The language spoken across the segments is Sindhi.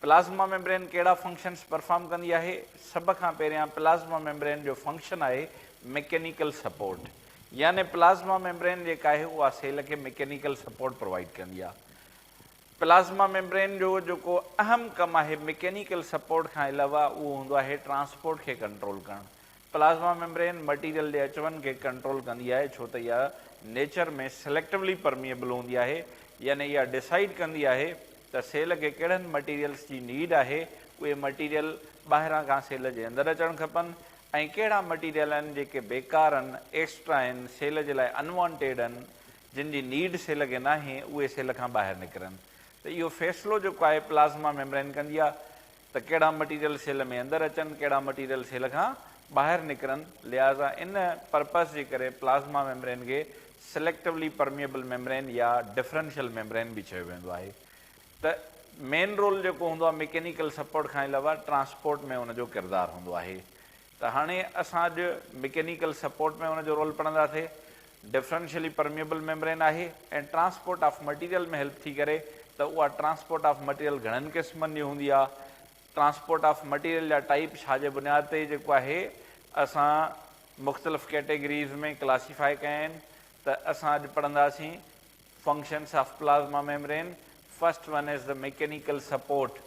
پلازما ميمبرين ڪهڙا فنڪشنز پرفارم ڪندي آهي؟ سڀ کان پهريان پلازما ميمبرين جو فنڪشن آهي ميڪينيڪل سپورٽ يعني پلازما ميمبرين جيڪا آهي اها سيل کي ميڪينيڪل سپورٽ پرووائيڊ ڪندي آهي. پلازما ميمبرين جو جيڪو اهم ڪم آهي ميڪينيڪل سپورٽ کان علاوه اهو هوندو آهي ٽرانسپورٽ کي ڪنٽرول ڪرڻ. پلازما ميمبرين مٽيريل جي اچ وڃ کي ڪنٽرول ڪندي آهي ڇو ته اها نيچر ۾ سليڪٽوولي پرميئبل هوندي آهي يعني اها ڊسائيڊ ڪندي آهي ته سيل کي ڪهڙن مٽيريلس جي نيڊ آهي اهي مٽيريل ٻاهران کان سيل جي اندر اچڻ کپن ۽ ڪهڙا مٽيريل آهن جيڪي بيڪار آهن ايڪسٽرا آهن سيل جي لاء انوانٽيڊ آهن جن جي نيڊ سيل کي ناهي اهي سيل کان ٻاهر نڪرن ته اهو فيصلو جيڪو آهي پلازما ميمبرين ڪندي آهي ته ڪهڙا مٽيريل سيل ۾ اندر اچن ڪهڙا مٽيريل سيل کان ٻاهر نڪرن لهٰذا ان پرپس جي ڪري پلازما ميمبرين کي سليڪٽوولي پرميئبل ميمبرين يا ڊفرنشل ميمبرين به چيو ويندو آهي ته مين رول جيڪو هوندو آهي ميڪينيڪل سپورٽ کان علاوه ٽرانسپورٽ ۾ ان جو ڪردار هوندو آهي ته هاڻي اسان اڄ مڪينيڪل سپورٽ ۾ ان جو رول پڙهنداسي، ڊفرنشلي پرميئبل ميمبرين آهي ۽ ٽرانسپورٽ آف مٽيريل ۾ هيلپ ٿي ڪري ته اها ٽرانسپورٽ آف مٽيريل گهڻن قسمن جي هوندي آهي، ٽرانسپورٽ آف مٽيريل جا ٽائيپ ڇا جي بنياد تي جيڪو آهي اسان مختلف ڪيٽيگريز ۾ ڪلاسيفاء ڪيا آهن ته اسان اڄ پڙهنداسين functions of plasma membrane, first one is ته مڪينيڪل سپورٽ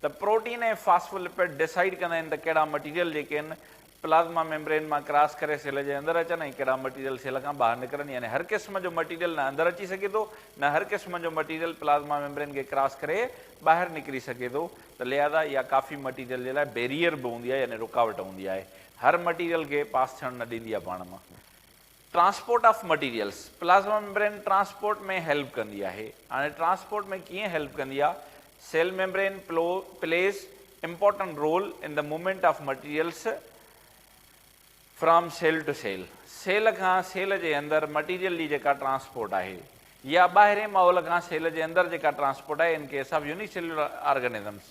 ته پروٽين ۽ فاسفولپڊ ڊيسائيڊ ڪندا آهن ته ڪهڙا مٽيريل جيڪي آهن پلازما ميمبرين مان ڪراس ڪري سيل جي اندر اچن ۽ ڪهڙا مٽيريل سيل کان ٻاهر نڪرن يعني هر قسم جو مٽيريل نه اندر اچي سگهي ٿو نه هر قسم جو مٽيريل پلازما ميمبرين کي ڪراس ڪري ٻاهر نڪري سگهي ٿو ته لهذا اها ڪافي مٽيريل جي لاء بيريئر به هوندي آهي يعني رڪاوٽ هوندي آهي هر مٽيريل کي پاس ٿيڻ نه ڏيندي آهي پاڻ مان transport of materials, plasma membrane transport ۾ help ڪندي آهي. هاڻي ٽرانسپورٽ ۾ ڪيئن هيلپ ڪندي آهي؟ Cell membrane play plays important role in the movement of materials from cell to cell, cell کان سيل جي اندر مٽيريل جي جيڪا ٽرانسپورٽ آهي يا ٻاهرين ماحول کان سيل جي اندر جيڪا ٽرانسپورٽ آهي in case of unicellular organisms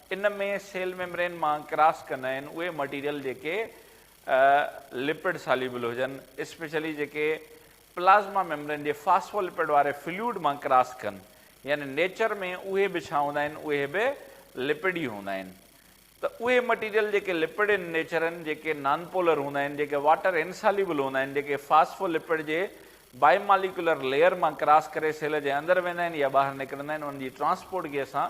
ان ۾ سيل ميمبرين مان ڪراس ڪندا آهن اهي مٽيريل جيڪي لپڊ ساليبل هجن، اسپيشلي جيڪي پلازما ميمبرين جي فاسفولپڊ واري فلوئڊ مان ڪراس ڪن، يعني نيچر ۾ اهي به ڇا هوندا آهن اهي به لپڊ ئي هوندا آهن. ته اهي مٽيريل جيڪي لپڊ ان نيچر آهن، جيڪي نانپولر هوندا آهن، جيڪي واٽر انساليبل هوندا آهن، جيڪي فاسفولپڊ جي بائي ماليڪيولر ليئر مان ڪراس ڪري سيل جي اندر ويندا آهن يا ٻاهر نڪرندا آهن، انهن جي ٽرانسپورٽ کي اسان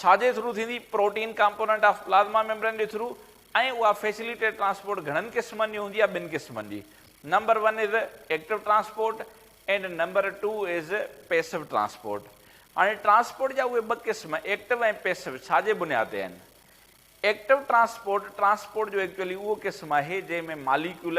ڇا جي ٿرو ٿيندي، protein component of plasma membrane جي ٿرو ۽ اها فيسيليٽيڊ ٽرانسپورٽ گهڻن قسمن جي هوندي آهي ٻن قسمن جي number one is active transport and number two is passive transport هاڻي ٽرانسپورٽ جا اهي ٻه قسم ايڪٽو ۽ پيسو ڇا جي بنياد تي آهن ايڪٽو ٽرانسپورٽ ٽرانسپورٽ جو ايڪچولي اهو قسم آهي جنهن ۾ ماليڪيول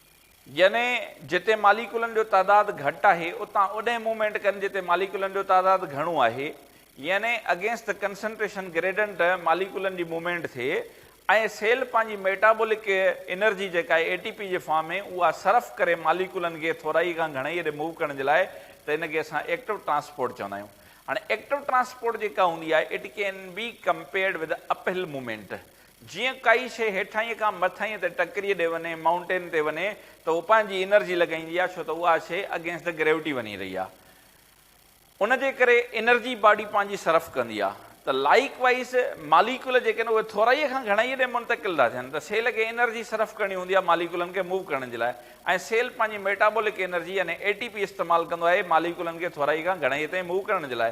يعني جتي ماليڪولن جو تعداد گهٽ آهي اتان اوڏهين موومينٽ ڪن جتي ماليڪولن جو تعداد گهڻو آهي يعني اگينسٽ دي ڪنسنٽريشن گريڊنٽ ماليڪولن جي موومينٽ ٿئي ۽ سيل پنهنجي ميٽابولڪ انرجي جيڪا آهي اي ٽي پي جي فارم ۾ اها صرف ڪري ماليڪولن کي ٿورائي کان گهڻائي ڏي موو ڪرڻ جي لاء ته ان کي اسان ايڪٽو ٽرانسپورٽ چوندا آهيون هاڻي ايڪٽو ٽرانسپورٽ جيڪا هوندي آهي it can be compared with uphill movement جيئن ڪائي شيء هيٺائينء کان مٿائينء تي ٽڪريء ڏي وڃي، Mountain، تي وڃي ته هو پنهنجي انرجي لڳائيندي آهي ڇو ته اها شيء Against the Gravity وڃي رهي آهي. ان جي ڪري انرجي باڊي پنهنجي صرف ڪندي آهي. ته لائيڪ وائيز ماليڪيول جيڪي آهن اهي ٿورائيء کان گهڻائيء ڏي منتقل ٿا ٿين ته سيل کي انرجي صرف ڪرڻي هوندي آهي ماليڪيولن کي موو ڪرڻ جي لاء ۽ سيل پنهنجي ميٽابولڪ انرجي يعني ATP استعمال ڪندو آهي ماليڪيولن کي ٿورائيء کان گهڻائيء تائين موو ڪرڻ جي لاء.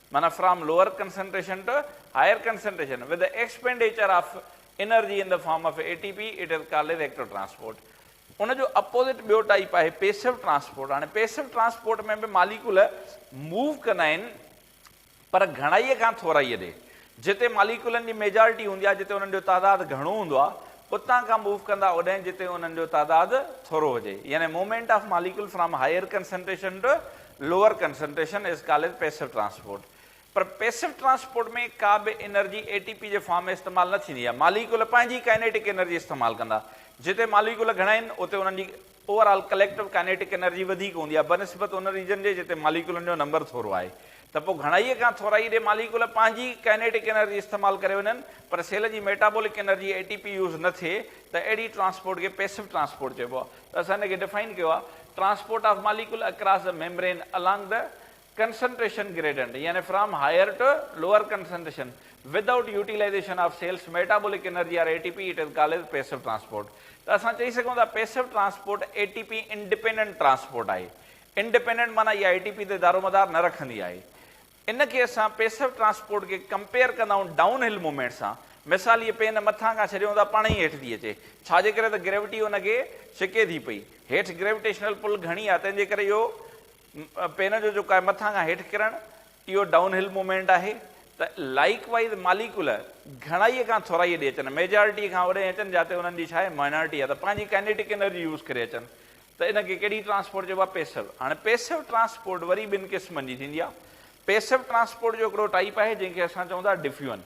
معنيٰ from lower concentration to higher concentration with the expenditure of energy in the form of A T P it is called as active transport ان جو اپوزٽ ٻيو ٽائيپ آهي پيسو ٽرانسپورٽ هاڻي پيسو ٽرانسپورٽ ۾ به ماليڪول موو ڪندا آهن پر گهڻائي کان ٿورائي ڏي جتي ماليڪولن جي ميجارٽي هوندي آهي جتي انهن جو تعداد گهڻو هوندو آهي اتان کان موو ڪندا اوڏهين جتي انهن جو تعداد ٿورو هجي يعني movement of molecule from higher concentration to lower concentration is called passive transport پر پيسو ٽرانسپورٽ ۾ ڪا به انرجي اي ٽي پي جي فارم ۾ استعمال نه ٿيندي آهي ماليڪول پنهنجي ڪائنيٽڪ انرجي استعمال ڪندا جتي ماليڪول گهڻا آهن اتي انهن جي overall collective kinetic energy وڌيڪ هوندي آهي بنسبت ان ريجن جي جتي ماليڪيولن جو نمبر ٿورو آهي ته پوء گهڻائيء کان ٿورائي ڏي ماليڪيول پنهنجي ڪائنيٽڪ انرجي استعمال ڪري وڃن پر سيل جي metabolic energy A T P use نه ٿئي ته اهڙي ٽرانسپورٽ کي پيسو ٽرانسپورٽ چئبو آهي ته اسان ان کي ڊفائن ڪيو آهي transport of molecule across the membrane along the concentration gradient يعني from higher to lower concentration without utilization of cell's metabolic energy or A T P it is called as passive transport ته اسان چئي سگهون ٿا passive transport A T P independent transport آهي انڊپينڊنٽ معنيٰ اها اي ٽي پي تي دارومدار نه رکندي آهي ان کي اسان پيسو ٽرانسپورٽ کي ڪمپيئر ڪندا آهيون ڊائون هل موومينٽ سان مثال هيء پين مٿان کان ڇڏيون ٿا پاڻ ئي هيٺ ٿي اچي ڇا جي ڪري ته گريوٽي ان کي ڇڪي ٿي پئي هيٺ گريوٽيشنل پل گهڻي آهي تنهن جي ڪري اهو پين جو جيڪو آهي مٿان کان هيٺ ڪرڻ اهو ڊائون هل موومينٽ آهي ته لائيڪ وائيز ماليڪول گهڻائي کان ٿورائي ڏي اچن ميجارٽي کان اوڏي اچن جاتي انهن جي ڇاهي مائنارٽي آهي ته پنهنجي ڪائنيٽڪ انرجي يوز ڪري اچن ته ان کي ڪهڙي ٽرانسپورٽ چئبو آهي پيسو هاڻي پيسو ٽرانسپورٽ وري ٻن قسمن جي ٿيندي آهي پيسو ٽرانسپورٽ جو هڪڙو ٽائيپ آهي جنهن کي اسان چئون ٿا ڊفيون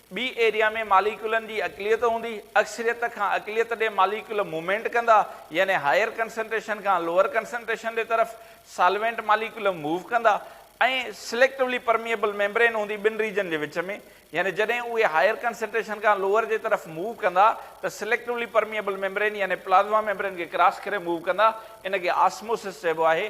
ٻي ايريا ۾ ماليڪيولن جي اقليت هوندي، اڪثريت کان اقليت ڏي ماليڪيول موومينٽ ڪندا، يعني هائير ڪنسنٽريشن کان لوئر ڪنسنٽريشن جي طرف سالوينٽ ماليڪيول موو ڪندا ۽ سليڪٽوولي پرميئبل ميمبرين هوندي ٻن ريجن جي وچ ۾ يعني جڏهن اهي هائير ڪنسنٽريشن کان لوئر جي طرف موو ڪندا ته سليڪٽوولي پرميئبل ميمبرين يعني پلازما ميمبرين کي ڪراس ڪري موو ڪندا ان کي آسموسس چئبو آهي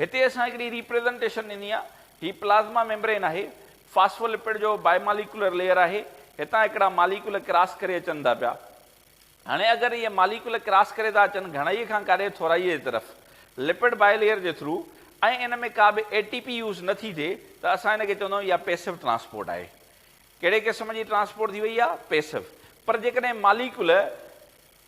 هتي اسان هڪڙي ريپريزنٽيشن ڏني آهي. هي پلازما ميمبرين آهي. فاسفولپڊ جو بائيماليڪيولر ليئر آهي. هتان هڪڙا ماليڪيول ڪراس ڪري اچن ٿا پيا. هاڻي اگر اهي ماليڪيول ڪراس ڪري ٿا اچن گهڻائيء کان ڪاري ٿورائيء جي طرف لپڊ بائي ليئر جي ٿرو ۽ ان ۾ ڪا به اي ٽي پي يوز نه ٿي ٿئي ته اسان ان کي چوندائون اها پيسو ٽرانسپورٽ آهي. ڪهڙي قسم جي ٽرانسپورٽ ٿي وئي آهي؟ پيسو. پر جيڪڏهن ماليڪيول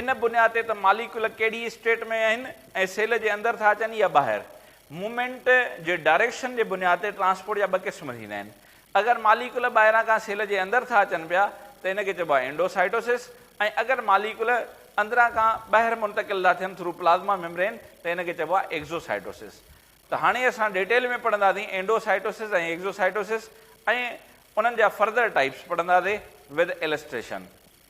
ان بنياد تي ته ماليڪيول ڪهڙي اسٽيٽ ۾ آهن ۽ سيل جي اندر ٿا اچن يا ٻاهر. مومينٽ جي ڊائريڪشن جي بنياد تي ٽرانسپورٽ جا ٻه قسم ٿيندا آهن. اگر ماليڪيول ٻاهران کان سيل جي اندر ٿا اچن پيا ته ان کي چئبو آهي انڊوسائٽوسس ۽ اگر ماليڪيول اندران کان ٻاهر منتقل ٿا ٿين ٿرو پلازما ميمبرين ته ان کي چئبو آهي ايڪزوسائٽوسس. ته هاڻي اسان ڊيٽيل ۾ پڙهنداسين انڊوسائٽوسس ۽ ايڪزوسائٽوسس ۽ انهن جا فردر ٽائيپس پڙهنداسين with Illustration.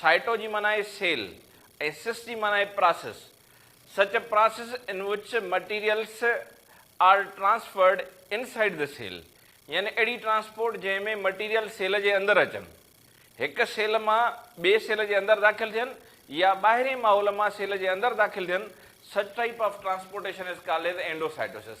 سائٽو جي معنيٰ آهي سيل ۽ سس جي معنيٰ آهي process. Such process in which materials are transferred inside the cell يعني اهڙي ٽرانسپورٽ جنهن ۾ مٽيريل سيل جي اندر اچن، هڪ سيل مان ٻئي سيل جي اندر داخل ٿين يا ٻاهرين ماحول مان سيل جي اندر داخل ٿين، such type of transportation is called endocytosis.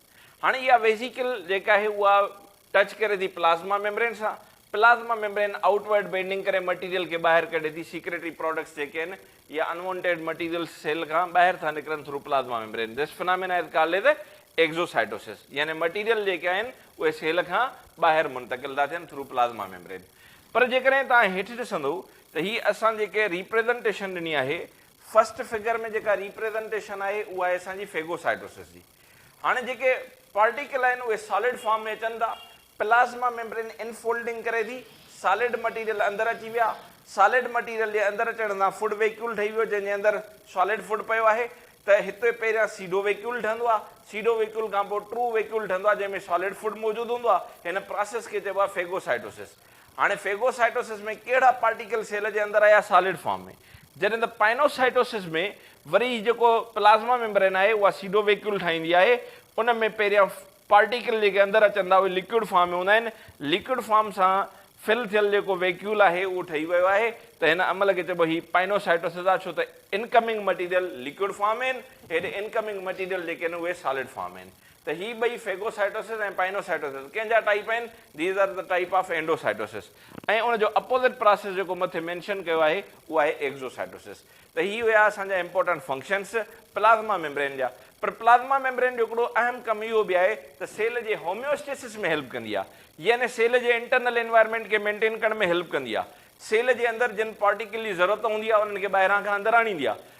هاڻي اها ويسيڪل جيڪا آهي اها ٽچ ڪري ٿي پلازما ميمبرين سان، plasma membrane outward bending ڪري مٽيريل کي ٻاهر ڪڍي ٿي، سيڪريٽري پراڊڪٽس جيڪي آهن اهي ان وانٽيڊ مٽيريلز سيل کان ٻاهر ٿا نڪرن through plasma membrane, this phenomena is called as exocytosis يعني مٽيريل جيڪي آهن اهي سيل کان ٻاهر منتقل ٿا ٿين ٿرو پلازما ميمبرين. پر جيڪڏهن توهان هيٺ ڏسندو ته هي اسان جيڪي ريپريزنٽيشن ڏني آهي فرسٽ فگر ۾ جيڪا ريپريزنٽيشن آهي اها آهي اسان جي فيگوسائٽوسس جي، هاڻي جيڪي پارٽيڪل آهن اهي سالڊ فارم ۾ اچن ٿا، پلازما ميمبرين ان فولڊنگ ڪري ٿي، سالڊ مٽيريل اندر اچي ويا، سالڊ مٽيريل جي اندر اچڻ سان فوڊ ويڪيول ٺهي ويو جنهن جي اندر سالڊ فوڊ پيو آهي ته هتي پهريان سيڊو ويڪيول ٺهندو آهي، سيڊو ويڪيول کانپوء ٽرو ويڪيول ٺهندو آهي جنهن ۾ سالڊ فوڊ موجود هوندو آهي، هن پراسيس کي چئبو آهي فيگوسائٽوسس. هاڻي فيگوسائٽوسس ۾ ڪهڙا پارٽيڪل سيل جي اندر آيا سالڊ فارم ۾ جڏهن ته پائنوسائٽوسس ۾ وري هي جيڪو پلازما ميمبرين آهي اها سيدو ويڪيول ٺاهيندي آهي ان ۾ پهريان پارٽيڪل جيڪي اندر اچن ٿا اهي ليڪوئڊ فارم ۾ هوندا آهن ليڪوئڊ فارم سان فل ٿيل جيڪو ويڪيول آهي اهو ٺهي ويو آهي ته هن عمل کي چئبو هي پائنوسائٽوسس آهي ڇو ته انڪمنگ مٽيريل ليڪوئڊ فارم ۾ آهن هيڏي انڪمنگ مٽيريل جيڪي آهن اهي سالڊ فارم ۾ آهن ته هي ٻئي فيگوسائٽوسس ۽ پائنوسائٽوسس ڪنهن جا ٽائيپ آهن؟ These are the type of Endositosis ۽ ان جو اپوزٽ پراسيس جيڪو مٿي مينشن ڪيو آهي اهو آهي ايگزوسائٽوسس ته هي هيا اسان جا امپورٽنٽ فنڪشنس پلازما ميمبرين جا پر پلازما ميمبرين جو هڪڙو اهم ڪم اهو به آهي ته سيل جي هوميوسٽيسس ۾ هيلپ ڪندي آهي يعني سيل جي انٽرنل انوائرمينٽ کي مينٽين ڪرڻ ۾ هيلپ ڪندي آهي سيل جي اندر جن پارٽيڪل جي ضرورت هوندي آهي انهن کي ٻاهران کان اندر آڻيندي آهي